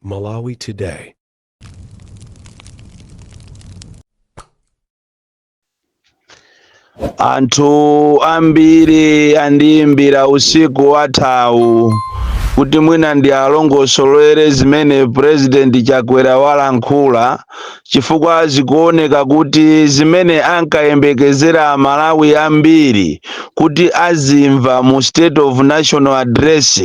Malawi Today. anthu ambiri andiyimbira usiku wathawu kuti mwina ndi alongosolere zimene purezidenti chakwera walankhula chifukwa zikuoneka kuti zimene ankayembekezera amalawi ambiri kuti azimva mu state of national address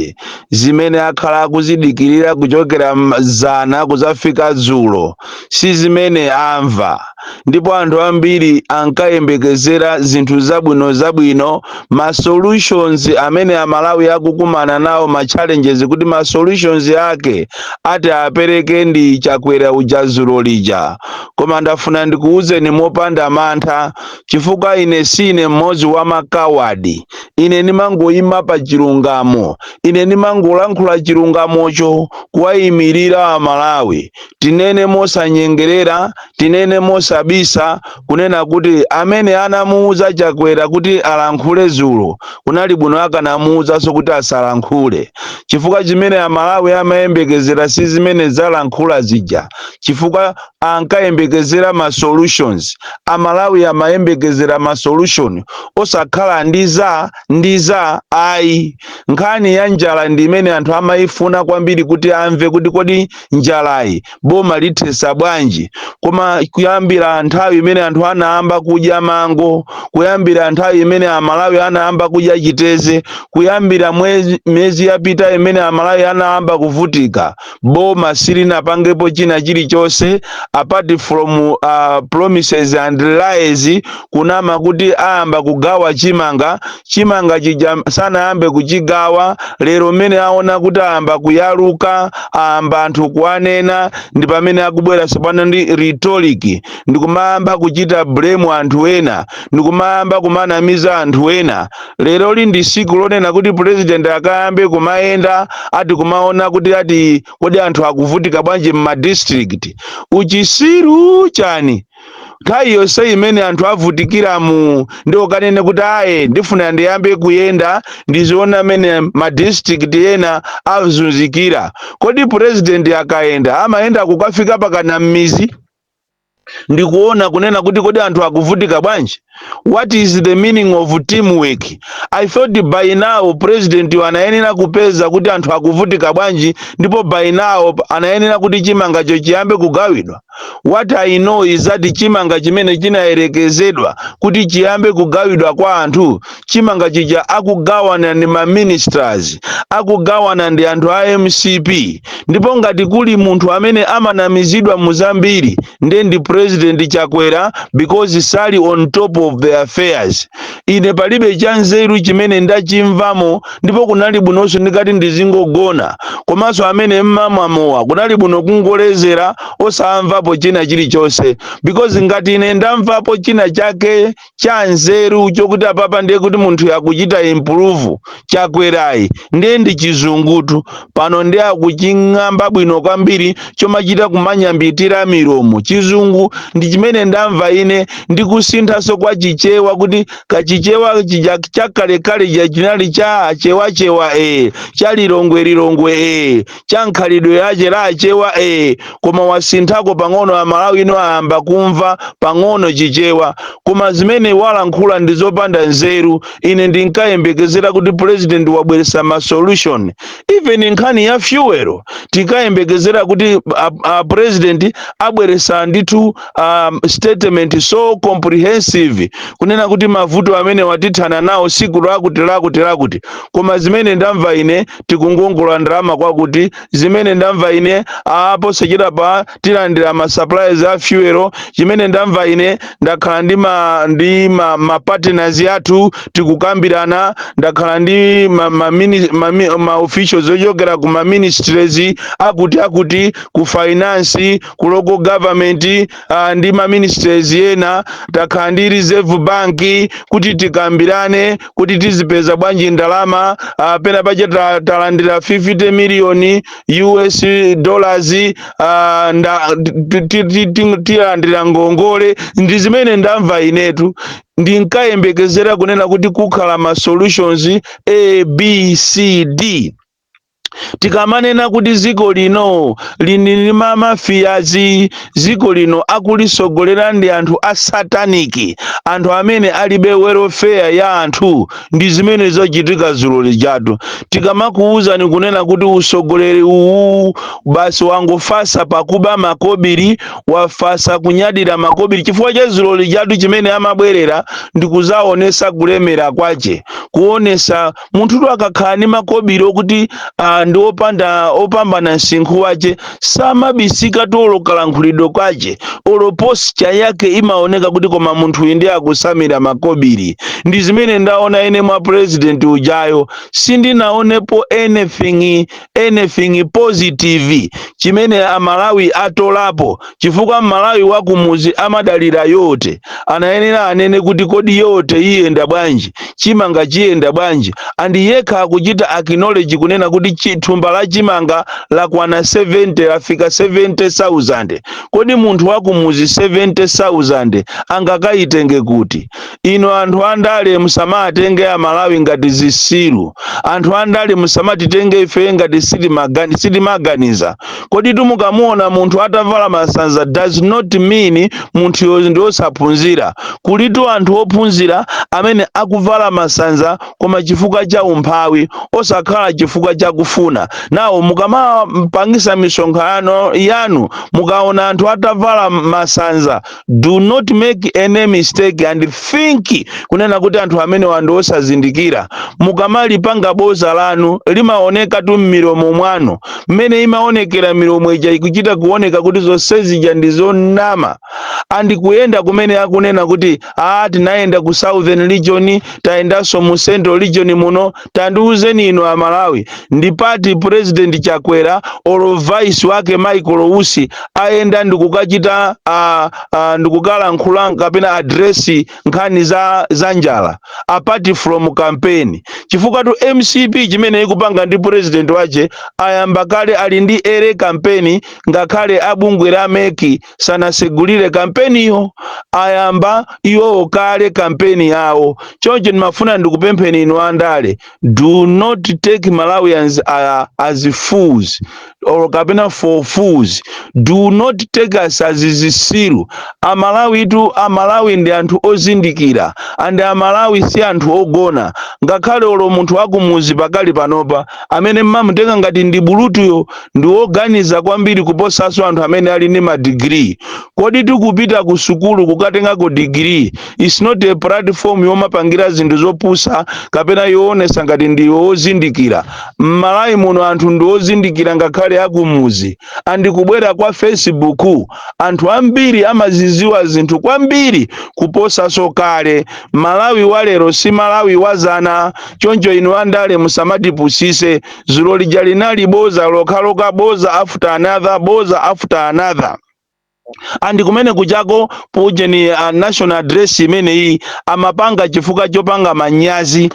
zimene akhala akuzidikirira kuchokera zana kuzafika dzulo si zimene amva ndipo anthu ambiri ankayembekezera zinthu zabwino zabwino ma solutions amene amalawi akukumana nawo ma challenges kuti ma solutions ake ati aperekedwe ndi chakwera uja zulo lija koma ndafuna ndikuwuzeni mopanda mantha chifukwa ine sine mmodzi wa makawadi ine ndimangoyima pa chilungamo ine ndimangolankhula chilungamocho kuwayimirira amalawi tinene mosanyengerera tinene mosabisa kunena kuti amene anamuuza Chakwera kuti alankhule zulo kunali bwino akanamuuzanso kuti asalankhule chifukwa chimene Amalawi amayembekezera si zimene walankhula zija chifukwa ankayembekezera ma solutions Amalawi amayembekezera ma solution osakhala ndiza ndiza ayi nkhani ya njala ndi imene anthu amayifuna kwambiri kuti amve kuti kodi njalayi boma lithetsa bwanji koma kuyambira nthawi imene anthu anayamba kudya mango kuyambira nthawi imene amalawi anayamba kudya chiteze kuyambira mwezi miyezi yapita imene amalawi anayamba kuvutika boma silinapangepo china chilichonse apart from uh, promises and lies kunama kuti ayamba kugawa chimanga chimanga chija sanayambe kuchigawa lero mmene aona kuti ayamba kuyaluka ayamba anthu kuwanena ndi pamene akubwera tsopano ndi rhetoric ndikumayamba kuchita blame anthu ena ndikumayamba kumanamiza anthu ena leroli ndi siku lonena kuti president akayambe kumayenda ati kumaona kuti ati kodi anthu akuvutika bwanji mma districts uchisiru chani nthawi yonse imene anthu avutikiramu ndiye ukanene kuti ayi ndifuna ndiyambe kuyenda ndiziona mmene madistrict ena azunzikira kodi president akayenda amayenda kukafika pakana m'mizi ndikuona kunena kuti kodi anthu akuvutika bwanji what is the meaning of teamwork i thought by now presidentyu anayenera kupeza kuti anthu akuvutika bwanji ndipo by now anayenera kuti chimangacho chiyambe kugawidwa what i know is that chimanga chimene chinayerekezedwa kuti chiyambe kugawidwa kwa anthu chimanga chija akugawana ndi ma ministers akugawana ndi anthu a mcp ndipo ngati kuli munthu amene amanamizidwa mu zambiri ndiye ndi president chakwera because sali on top of the affairs ine palibe cha nzeru chimene ndachimvamo ndipo kunali bwinonso ndikati ndizingogona komanso amene mmamwa mowa kunali bwino kungolezera osamvapo china chilichonse because ngati ine ndamvapo china chake cha nzeru chokuti apapa ndiye kuti munthuyi akuchita improve chakwerayi ndiye ndi chizungutu pano ndiye akuching'amba bwino kwambiri chomachita kumanyambitira milomo chizungu ndi chimene ndamva ine ndi kusinthanso kwa chichewa kuti chichewa chija chakalekale chija chinali cha achewachewa ee cha lilongwe lilongwe ee cha mkhalidwe wache wa achewa ee koma wasinthako pang'ono amalawi tsopano ayamba kumva pang'ono chichewa koma zimene walankhula ndi zopanda nzeru ine ndinkayembekezera kuti president abweresa ma solution even nkhani ya fuel tinkayembekezera kuti a, a president abweresa ndithu um, statement so comprehensive kunena kuti mavuto amenewa tithana nawo siku lakuti lakuti lakuti koma zimene ndamva ine tikungongola ndalama kwakuti zimene ndamva ine posachedwapa tilandira ma supplies a fuel chimene ndamva ine ndakhala ndi ma ndi ma, ma partners athu tikukambirana ndakhala ndi ma, ma, mini, ma, mi- ma officials ochokera ku ma ministries akuti akuti ku finance ku local government ah, ndi ma ministries ena takhala ndi reserve bank kuti tikambirane kuti tizipeza bwanji ndalama ah, pena pache ta- talandira 50 million us dollars ah, nda ti- ti- ti- ti- tilandira ngongole ndi zimene ndamva inetu ndinkayembekezera kunena kuti kukhala ma solutions a b c d tikamanena kuti dziko lino lili ndi mamafiyazi dziko lino akulisogolera ndi anthu a sataniki anthu amene alibe welfare ya anthu ndi zimene zachitika dzulo lijatu tikamakuwuzani kunena kuti usogoleri uwu basi wangofasa pakuba makobiri wafasa kunyadira makobiri chifukwa cha dzulo lijatu chimene amabwerera ndi kuzaonesa kulemera kwache kuonesa munthutu akakhala ndi makobiri okuti ah, ndi opanda opambana msinkhu wache samabisika olo kalankhulidwe kwache olo posture yake imaoneka kuti koma munthuyu ndiye akusambira makobiri ndi zimene ndaona ine mwa president ujayo sindinaonepo anything anything positive chimene amalawi atolapo chifukwa mmalawi wakumuzi amadalira yotsika mtengo anayenera anene kuti kodi yote iyenda bwanji chimanga chiyenda bwanji and yekha akuchita acknowledge kunena kuti chi- thumba la chimanga lakwana 70 lafika 70000 kodi munthu wakumuzi 70000 angakayitenge kuti inu anthu andale musamatenge amalawi ngati zisilu anthu andale musamatitenge ife ngati sitimagani- sitimaganiza koditu mukamuona munthu atavala masanza does not mean munthuyo ndi osaphunzira kulitu anthu ophunzira amene akuvala masanza koma chifukwa cha umphawi osakhala chifukwa cha kufuna nawo mukamapangisa misonkhano yanu mukaona anthu atavala masanza do not make any mistake and think kunena kuti anthu amenewa ndi osazindikira mukamalipanga boza lanu limaonekatu mmilomo mwanu mmene imaonekera milomo ija ikuchita kuoneka kuti zonse zija ndi zonama and kuyenda kumene akunena kuti ah tinayenda ku southern region tayendanso mu central region muno tandiuzeni inu amalawi ndi pati president chakwera or vice wake michael usi ayenda ndikukachita uh, uh, ndikukalankhula kapena address nkhani za, za njala apart from campaign chifukwatu mcp chimene ikupanga ndi president wache ayamba kale ali ndi early campaign ngakhale abungwe la mec sanasegulire kampeniyo ayamba iwowo kale kampeni yawo choncho ndimafuna ndikupempheni inu andale do not take malawians uh, as fools or kapena for fools do not take us as zisilu amalawitu amalawi ndi anthu ozindikira and amalawi si anthu ogona ngakhale olo munthu wakumuzi pakali panopa amene mmamutenga ngati ndi bulutuyo ndi woganiza kwambiri kuposanso anthu amene ali ndi madigiri koditu kupita ku sukulu kukatengako digiri is not a platform yomapangira zinthu zopusa kapena yoonesa ngati ndiwe wozindikira m'malawi muno anthu ndi ozindikira ngakhale akumuzi and kubwera kwa facebook anthu ambiri amaziziwa zinthu kwambiri kuposanso kale malawi walero si malawi wazana choncho inu andale musamatipusise zulo lija linali boza lokhalokha boza after another boza after another and kumene kuchako pujeni uh, national address imeneyi amapanga chifukwa chopanga manyazi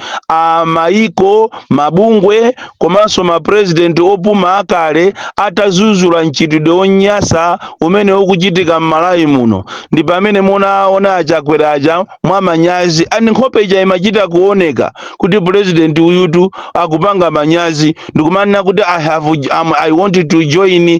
maiko mabungwe komanso mapresident opuma akale atazuzula mchitidwe wonyasa umene ukuchitika m'malawi muno ndi pamene munaona achakwera aja mwa manyazi ndi nkhope ija imachita kuoneka kuti president uyutu akupanga manyazi ndikumanena kuti i have um, i want to join uh,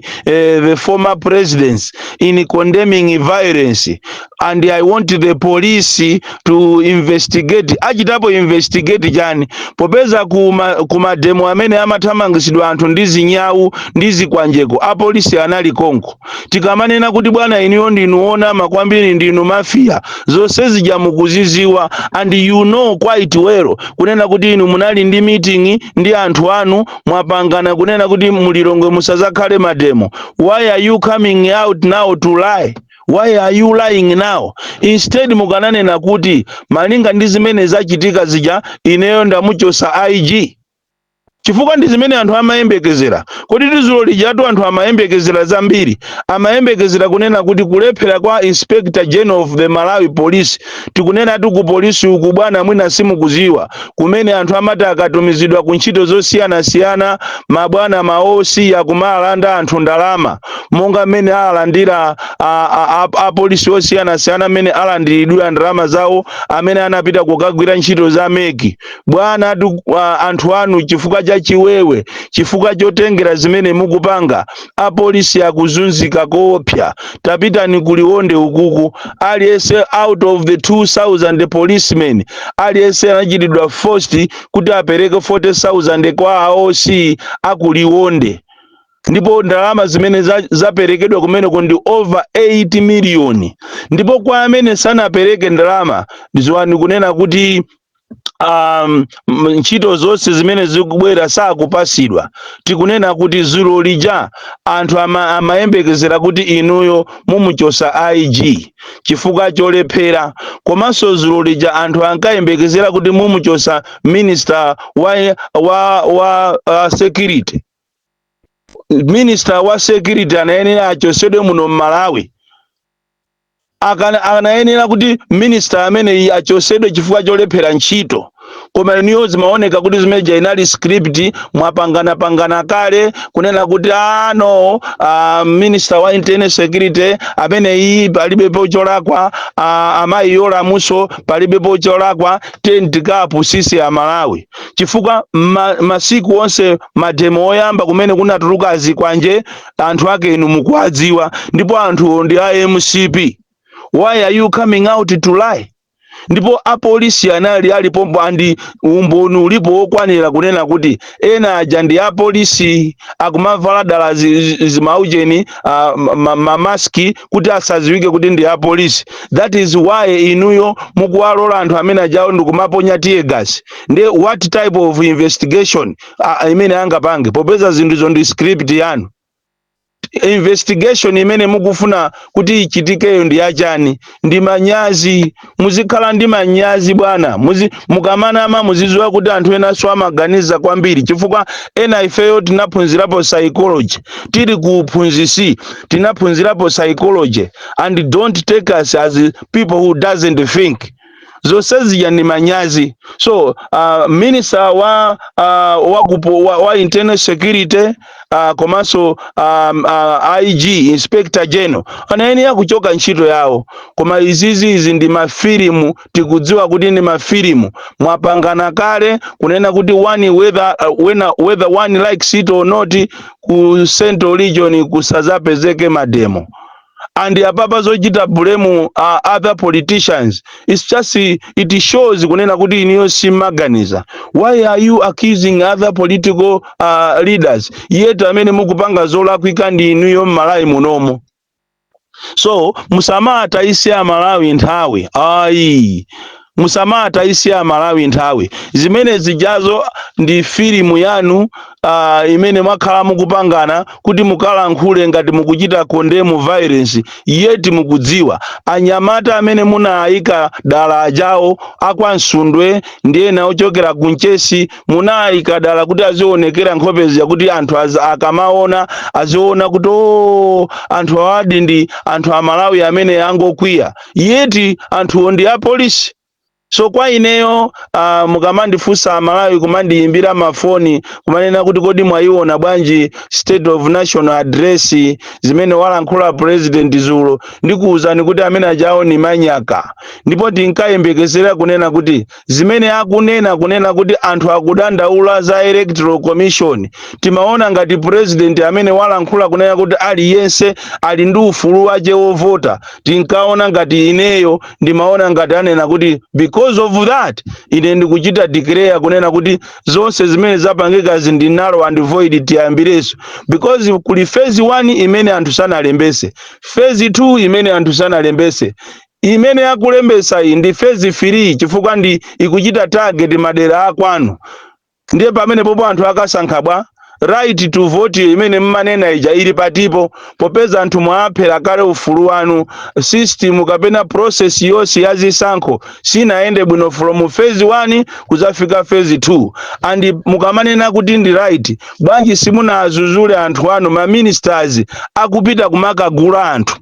the former presidents in condemning violence and i want the police to investigate achitapo investigate chani popeza kuma, kuma demo amene amathamangisidwa anthu ndi zinyawu ndi zikwanjeko apolisi anali konko tikamanena kuti bwana inuyo ndinu onama kwambiri ndinu mafia zonse zija mukuziziwa and you know quite well kunena kuti inu munali ndi meeting ndi anthu anu mwapangana kunena kuti mulilongwe musazakhale mademo why are you coming out now to lie why are you lying now instead mukananena kuti malinga ndi zimene zachitika zija ineyo ndamuchosa ig chifukwa ndi zimene anthu amayembekezera. Kodi dzulo lijatu anthu amayembekezera zambiri. Amayembekezera kunena kuti kulephera kwa Inspector General of the Malawi Police, tikunenatu ku polisi uku bwana mwina simukuziwa, kumene anthu amati akatumizidwa ku ntchito zosiyanasiyana mabwana ma OC akumalanda anthu ndalama monga mmene alandira a- a- a- apolisi osiyanasiyana amene alandiridwira ndalama zawo amene anapita kukagwira ntchito za meki Bwana ati uh, anthu anu chifukwa cha chiwewe, chifukwa chotengera zimene mukupanga, apolisi akuzunzika koopsa. Tapitani ku Liwonde ukuku, aliyense out of the 2000 policemen aliyense anachitidwa forced kuti apereke 40000 kwa a OC aku Liwonde ndipo ndalama zimene za- zaperekedwa kumeneko ndi over 8 miliyoni ndipo kwa amene sanapereke ndalama dziwani kunena kuti um, m- ntchito zonse zimene zikubwera sakupasidwa tikunena kuti zulo lija anthu ama, amayembekezera kuti inuyo mumuchosa ig chifukwa cholephera komanso zulo lija anthu ankayembekezera kuti mumuchosa minister wa, wa, wa uh, security minister wa security anayenera achosedwe muno mmalawi akana anayenera kuti minister ameneyi achosedwe chifukwa cholephera ntchito koma inuyo zimaoneka kuti zimeja inali script mwapangana pangana kale kunena kuti ah no uh, minister wa internal security ameneyi palibe pocholakwa uh, amayi Yolamu so palibe pocholakwa tiyeni tikapusise amalawi chifukwa ma, masiku onse mademo oyamba kumene kunatuluka azikwanje anthu ake inu mukuwadziwa ndipo anthuwo ndi a mcp why are you coming out to lie ndipo apolisi anali alipompo and umboni ulipo wokwanira kunena kuti ena aja ndi apolisi akumavala dala zi- zi- zimaujeni ah, ma- ma- mamaski kuti asadziwike kuti ndi apolisi that is why inuyo mukuwalola anthu amene ajawo ndikumaponya tear gas nde what type of investigation a- a- imene angapange popeza zinthuzo ndi script yanu investigation imene mukufuna kuti ichitikeyo ndi yachani ndi manyazi muzikhala ndi manyazi bwana Muzi, mukamanama muziziwa kuti anthu enanso amaganiza kwambiri chifukwa ena ifeyo tinaphunzirapo psychology tili ku uphunzisi tinaphunzirapo psychology and don't take us as people who doesn't think zonsezi ija ndi manyazi so uh, minister wa uh, wa, kupo, wa, wa internal security uh, komanso um, uh, IG inspector general anayenera kuchoka ntchito yawo koma izizi izi ndi mafilimu tikudziwa kuti ndi mafilimu mwapangana kale kunena kuti one whether, uh, whether, whether one likes it or not ku central region kusazapezeke mademo and apapa zochita blame other politicians it's just it shows kunena kuti inuyo simaganiza why are you accusing other political uh, leaders yet amene mukupanga zolakwika ndi inuyo mmalawi munomo so musamatayise amalawi nthawi ayi Musamatayise amalawi nthawi. Zimene zijazo ndi filimu yanu uh, imene mwakhala mukupangana kuti mukalankhule ngati mukuchita condemn violence yet mukudziwa anyamata amene munaayika dala ajawo akwa Msundwe ndi ena ochokera ku Mchesi munaayika dala kuti azionekera nkhope zija kuti anthu az- akamaona aziona kuti o anthu awadi ndi anthu amalawi amene angokwiya yeti anthuwo ndi apolisi so kwa ineyo uh, mukamandifunsa amalawi kumandiyimbira mafoni kumanena kuti kodi mwayiona bwanji state of national address zimene walankhula president zulo ndikuwuzani kuti amene ajawo ni manyaka ndipo tinkayembekezera kunena kuti zimene akunena kunena kuti anthu akudandaula za electoral commission timaona ngati president amene walankhula kunena kuti aliyense ali ndi ufulu wache wovota tinkaona ngati ineyo ndimaona ngati anena kuti because of that ine ndikuchita declare kunena kuti zonse zimene zapangikazi ndi null and void tiyambireso because kuli phase 1 imene anthu sanalembese phase 2 imene anthu sanalembese Imene akulembetsayi ndi phase 3 chifukwa ndi ikuchita target madera akwanu ndiye pamenepopo anthu akasankha bwa? Right to voteyo imene mmanena ija ili patipo popeza anthu mwaaphera kale ufulu wanu. System kapena process yonse ya zisankho sinayende bwino from phase 1 kudzafika phase 2 and mukamanena kuti ndi right bwanji simunaazuzule anthu anu ma ministers akupita kumakagula anthu?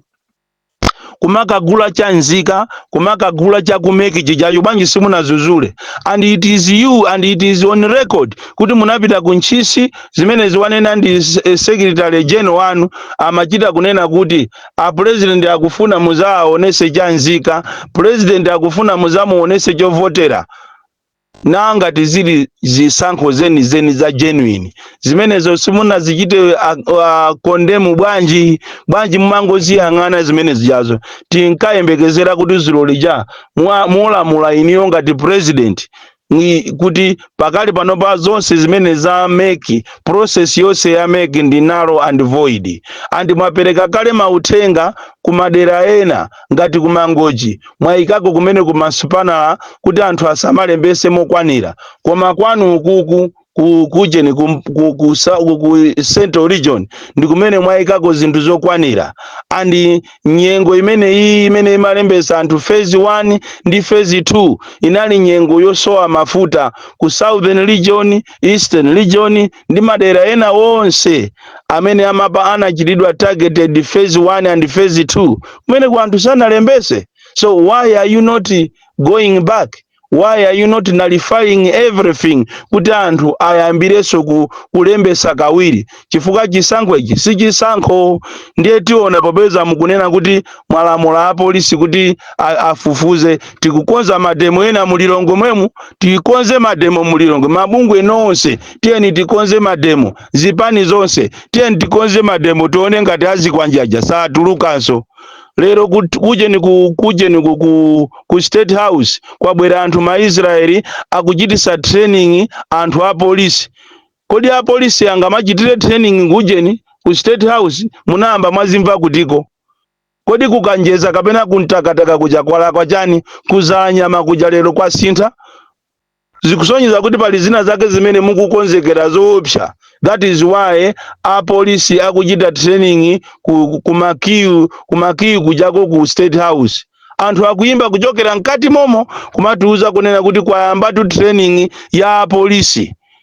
kumakagula cha nzika kumakagula cha ku MEC chijacho bwanji simunazuzule and it is you and it is on record kuti munapita ku Ntchisi zimenezi wanena ndi s- eh, secretary general wanu amachita kunena kuti a president akufuna muzaaonese cha nzika president akufuna muzamuonese chovotera na ngati zili zisankho zeni zeni za genuine zimenezo simunazichite condemn bwanji bwanji mumangoziyang'ana zimene zijazo tinkayembekezera kuti zulo lija mwa- mulamula inuyo ngati president kuti pakali panopa zonse zimene za MEC process yonse ya MEC ndi null and void and mwapereka kale mauthenga ku madera ena Ngati ku Mangochi mwayikako kumeneku masupanala kuti anthu asamalembese mokwanila koma kwanu ukuku ku kujeni ku, ku, ku, sa- ku, ku central region ndi kumene mwayikako zinthu zokwanila and nyengo imene iyi imene imalembesa anthu phase 1 ndi phase 2 inali nyengo yosowa mafuta ku southern region eastern region ndi madera ena onse amene amapa anachitidwa targeted phase 1 and phase 2 kumeneku anthu sanalembese so why are you not going back why are you not nullifying everything kuti anthu ayambirenso ku, kulembesa kawiri chifukwa chisankho ichi si chisankho ndiye tiona popeza mukunena kuti mwalamula apolisi kuti a- afufuze tikukonza mademo ena mu Lilongwe mwemu tikonze mademo mu Lilongwe mabungwe nonse tiyeni tikonze mademo zipani zonse tiyeni tikonze mademo tione ngati azikwanje aja satulukanso lero kut- kujeni ku kujeni ku, ku, ku state house kwabwera anthu ma israeli akuchitisa training anthu a polisi kodi a polisi angamachitire training kujeni ku state house munayamba mwazimva kutiko kodi ku Kanjedza kapena ku Mtakataka kuja kwalakwa chani ku Dzalanyama kuja lero kwasintha zikusonyeza kuti pali zina zake zimene mukukonzekera zoopsa that is why apolisi akuchita training ku, ku marquee ku marquee kujako ku state house anthu akuyimba kuchokera mkati momo kumatiuza kunena kuti kwayambatu training ya apolisi